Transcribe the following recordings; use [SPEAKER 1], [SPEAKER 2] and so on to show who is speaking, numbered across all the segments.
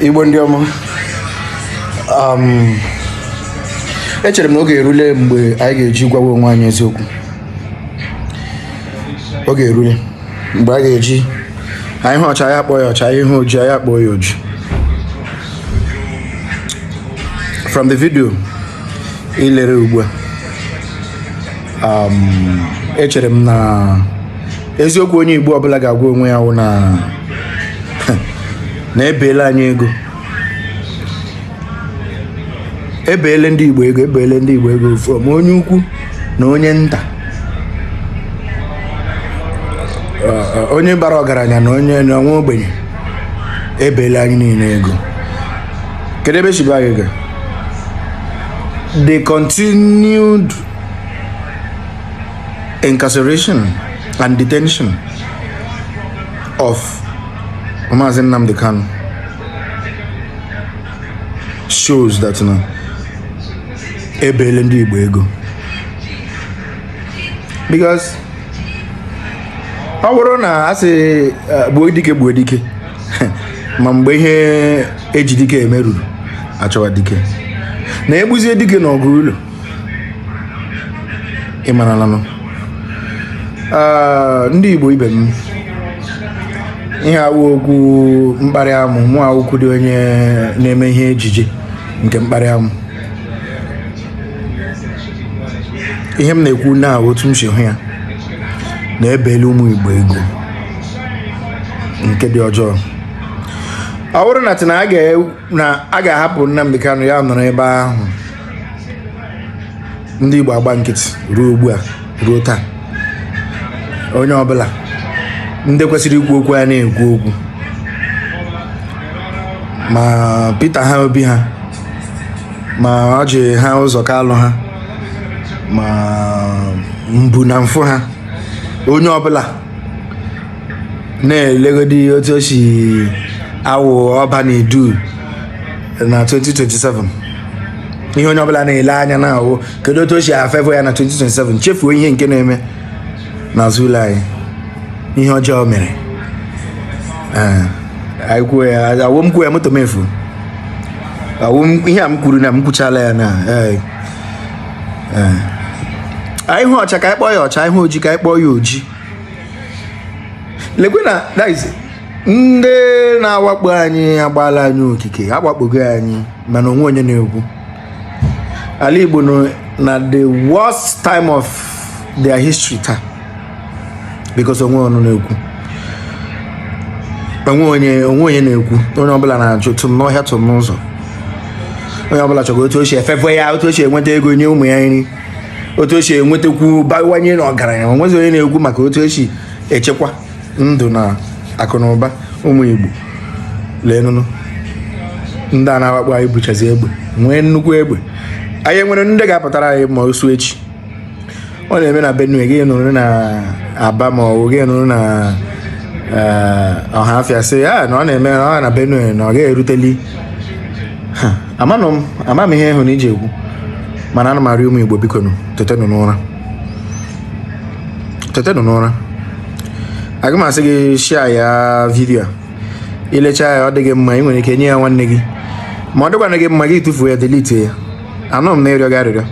[SPEAKER 1] Igbo ndị ọma um, echere m na oge erule mgbe anyị ga-eji gwawa onwe anyị eziokwu oge erule mgbe a ga-eji anyị hụ ọcha anyị akpọọ ya ọcha anyị hụ oji anyị akpọọ ya oji from the video i lere ugbu a um, echere m na eziokwu onye Igbo ọbụla ga-agwa onwe ya wụ na na ebeele anyị ego ebeele ndị Igbo ego ebeele ndị Igbo ego from onye ukwu na onye nta onye bara ọgaranya na onye na nwa ogbenye ebeele anyị niile ego kedu ebe e si bee anyị ego the continued incarceration and detention of Maazị Nnamdi Kanu shows that na ebeele ndị Igbo ego because ọ bụrụ na a sị eh, gbuo dike gbuo dike ma mgbe ihe e ji dike eme ruru a chọwa dike na e gbuzie dike n'ọgụ ụlọ ị maralanụ ndị Igbo ibe m ihe a awụ okwu mkparị amụ mụ awụkwudị onye na-eme ihe ejije nke mkparị amụ ihe m na-ekwu na otu m si hụ ya na ebeele ụmụ Igbo ego nke dị ọjọọ ọ bụrụ na a ga-ahapụ Nnamdi Kanu ya anọrọ ebe ahụ ndị Igbo agba nkịtị ruo ugbu a ruo taa onye ọbụla ndị kwesịrị ikwu okwu ya na-ekwu okwu ma Peter ha Obi ha ma Orji ha Uzor Kalu ha ma mbu na mfụ ha onye ọbụla na-elegodi otu o si awụ Ọba na Idu na 2027 ihe onye ọbụla na-ele anya na ahụ kedu otu o si a-favour ya na 2027 chefuo ihe nke na-eme n'azụ ụlọ anyị ihe ọjọọ mere Ee, anyị kwuo ya awụ m kwuo ya moto m efu awụ m ihe a m kwuru na m kwuchala ya na ee, ee. anyị hụ ọcha ka anyị kpọọ ya ọcha anyị hụ oji ka anyị kpọọ ya oji lekwe na that is ndị na-awakpo anyị agbaala anyị okike agbakpogo anyị mana onwe onye na-ekwu ala Igbo nọ na the worst time of their history taa because onwe ọnụ na-ekwu onwe onye onwe onye na-ekwu onye ọbụla na-ajụ tụm n'ọhịa tụm n'ụzọ onye ọbụla chọrọ otu o si efefe ya otu o si enweta ego nye ụmụ ya nri otu o si enwetakwu bawanye na ọgaranya o nwezi onye na-ekwu maka otu o si echekwa ndụ na akụ na ụba ụmụ igbo leenụnụ ndị a na-awakpo anyị buchazi egbe nwee nnukwu egbe anyị nwere ndị ga-apụtara anyị ma o su echi ọ na-eme na benue gị nọrọ na aba ma ọ bụ gị nọrọ na eh, ọhafịa sị ya ah, na ọ na-eme ọ na benue na ọ gaghị eruteli amanụ m ama m ihe ị hụ na i ji ekwu mana ana m arịọ ụmụ igbo bikonụ tetenụ n'ụra tetenụ n'ụra aga m asị gị share ya video a i lecha ya ọ dị gị mma i nwere ike nye ya nwanne gị ma ọ dịkwana gị mma gị tụfuo ya delete ya anọ m na ịrịọ gị arịrịọ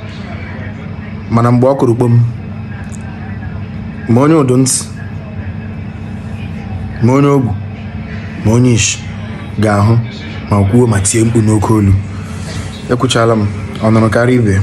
[SPEAKER 1] mana mgbe ọ kụrụ kpom ma onye ụdụ ntị ma onye ogbu ma onye ishi ga-ahụ ma kwuo ma tie mkpu n'oke olu ekwuchala m ọ nụrụ kara ibe ya